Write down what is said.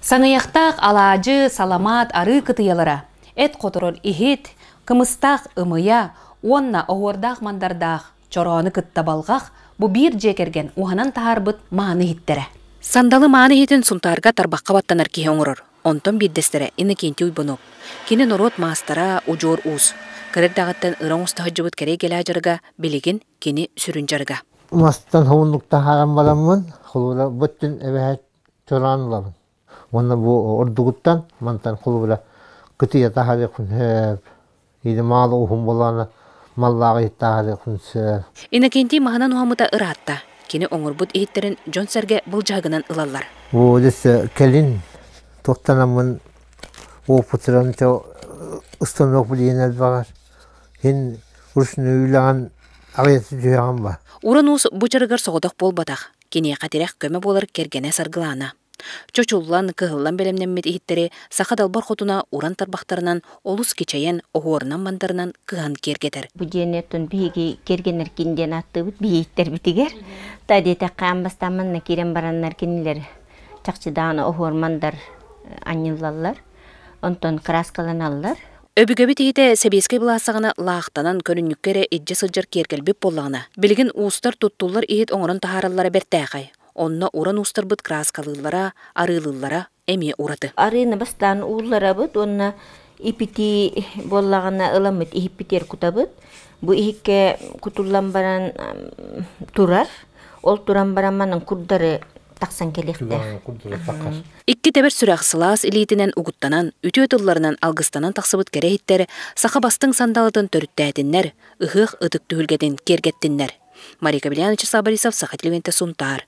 Саныйахтаах алаадьы, саламаат арыы кытыйалара, эт хоторор иһит, кымыстаах ымыйа уонна оһуордаах мандардаах чороону кытта балҕах бу биир дьиэ кэргэн уһанан таһаарбыт мааны иһиттэрэ. Сандалы мааны иһитин Сунтаарга тарбахха баттанар киһи оҥорор. Онтон биирдэстэрэ Иннокентий Уйбанов. Кини норуот маастара, удьуор уус. Кыра эрдэҕиттэн ыра оҥосто сылдьыбыт кэрэй кэлээ дьарыга билигин кини сүрүн дьарыга. Мастан хомуннуктаһааран бараммын, холура быттын эбэһэт чораан ылабын. Уонна бу ордугуттан мантан холура кытыйа таһарыхын сөп. Иди маалы уһун болаана маллаах иттаһарыхын сөп. Иннокентий маһынан уһамыта ыраатта. Кини оҥорбут иһиттэрин дьон-сэргэ былдьаһыгынан ылаллар. Бу кэлин туохтанаммын опытыран устанок билиэн элбэҕэр Син уснуулаҕын аҕыйаtta түһэҕин ба Уран-уус бучарыгар соҕотох буолбатах, киниэхэ тирэх көмө буолар кэргэнэ саргылаана. Чочуллан, кыһыллан бэлэмнэммит иһиттэри саха далбар хотуна уран тарбахтарынан олус кичэйэн, оһуорунан-мандарынан кыһан киэргэтэр. Бу диэн оттон биһиги кэргэннэргин диэн ааттыыбыт биһиэттэрбитигэр. Та диэтэххэ аан бастаан манна киирэн бараннар кинилэр чахчы даҕаны оһуор-мандар анньыллаллар. Онтон кырааскаланаллар. Өбүгэбит иһитэ сэбиэскэй былаастаҕына лаахтанан, көрүнньүккэ эрэ илдьэ сылдьар киэркэлбит буоллаҕына, билигин уустар туттуллар иһит оҥорон таһаараллара бэртээхэй. Онно уран уустарбыт кырааскалыыллара, арыылыыллара эмиэ ураты. Арыыны бастаан уулларабыт уонна ипити буоллаҕына ыламмыт иһиппитигэр кутабыт. Бу иһиккэ кутуллан баран турар. Ол туран баран манан курдары тахсан кэлиэхтээх. Икки тэбэр сүрэх сылаас илиитинэн угуттанан, үтүө тылларынан алгыстанан тахсыбыт кэрэ иһиттэр саха бастыҥ сандалытын төрүттээтиннэр, ыһыах ытык түһүлгэтин киэргэттиннэр. Мария Кабельянович Сабарисов, Саха телевидения Сунтаар.